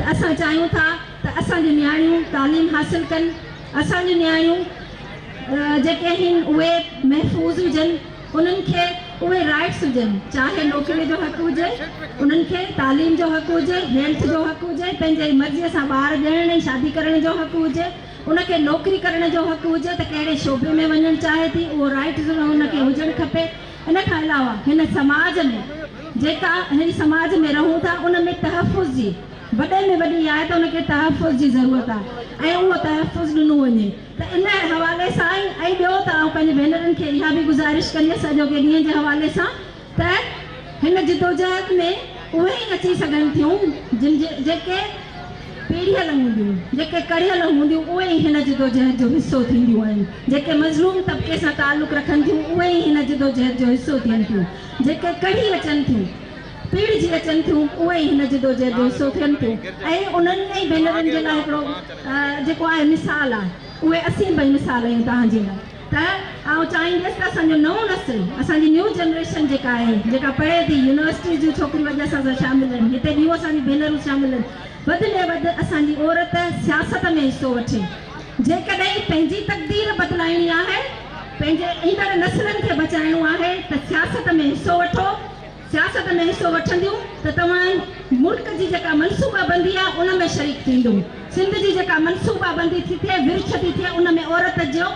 ته اسان چاهيون ٿا ته اسان جون نياڻيون تعليم حاصل ڪن، اسان جون نياڻيون جيڪي آهن اهي محفوظ هجن، انهن کي اهي رائيٽس هجن، چاهي نوڪري جو حق هجي، انهن کي تعليم جو حق هجي، هيلٿ جو حق هجي، پنهنجي مرضي سان ٻار ڄڻڻ ۽ شادي ڪرڻ جو حق هجي، ان کي نوڪري ڪرڻ جو حق هجي ته ڪهڙي شعبي ۾ وڃڻ چاهي ٿي اهو رائيٽ ان کي هجڻ کپي. ان کان علاوه هن سماج ۾ جيڪا هن سماج ۾ رهون ٿا ان ۾ تحفظ جي وڏي ۾ وڏي اها آهي ته ان کي تحفظ جي ضرورت آهي ۽ اهو تحفظ ڏنو وڃي ته ان حوالي سان ئي ۽ ٻيو ته آئون پنهنجي ڀينرن کي اها به گذارش ڪنديس اڄوڪي ڏينهن جي حوالي سان ته هن جدوجهد ۾ اهي ئي اچي سگهن ٿيون جن جي جيڪي پيڙهيل هونديون، جيڪي ڪڙهيل هونديون اهي ئي هن جدوجهد جو حصو ٿينديون آهن، جيڪي مظلوم طبقي سان تعلق رکن ٿيون اهي ئي هن جدوجهد جو حصو ٿين ٿيون، جيڪي ڪڙهي اچن ٿيون، پيڙهجي اچن ٿيون اهي ئي هن جدوجهد جو حصو ٿين ٿيون ۽ انهن ٽئي ڀينرن جي لاء هڪڙو جيڪو آهي مثال آهي اهي اسين ٻئي مثال آهيون توهان جي لاء. ته آئون چاهينديس ته اسان جو نئون نسل اسان جي نيو جنريشن جيڪا آهي جيڪا پڙهي ٿي يونيورسٽيز جون ڇوڪريون اڄ اسان سان شامل آهن هتي ٻيون اسان جون ڀينرون شامل آهن وڌ ۾ وڌ اسان جي عورت سياست ۾ حصو وٺي جيڪڏهن پنهنجي تقدير بدلائڻي آهي پنهنجي ايندڙ نسلن کي بچائڻو آهي ته سياست ۾ حصو وٺو. سياست ۾ حصو وٺنديون ته توهان ملڪ جي جيڪا منصوبا بندي آهي ان ۾ شريڪ ٿيندو سنڌ جي جيڪا منصوبا بندي ٿي ٿئي ورڇ ٿي ٿئي ان ۾ عورت جو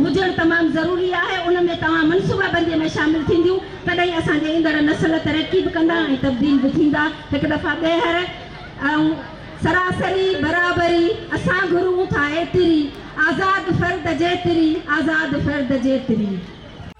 هجڻ تمام ضروري آهي ان ۾ توهان منصوبا بندي ۾ شامل ٿينديون تڏهن اسان جي ايندڙ نسل ترقي به ڪندا ۽ تبديل به ٿيندا هڪ دفعا ٻيهر ۽ سراسري برابري اسان گهرون ٿا ايتري آزاد فرد جيتري آزاد فرد جيتري.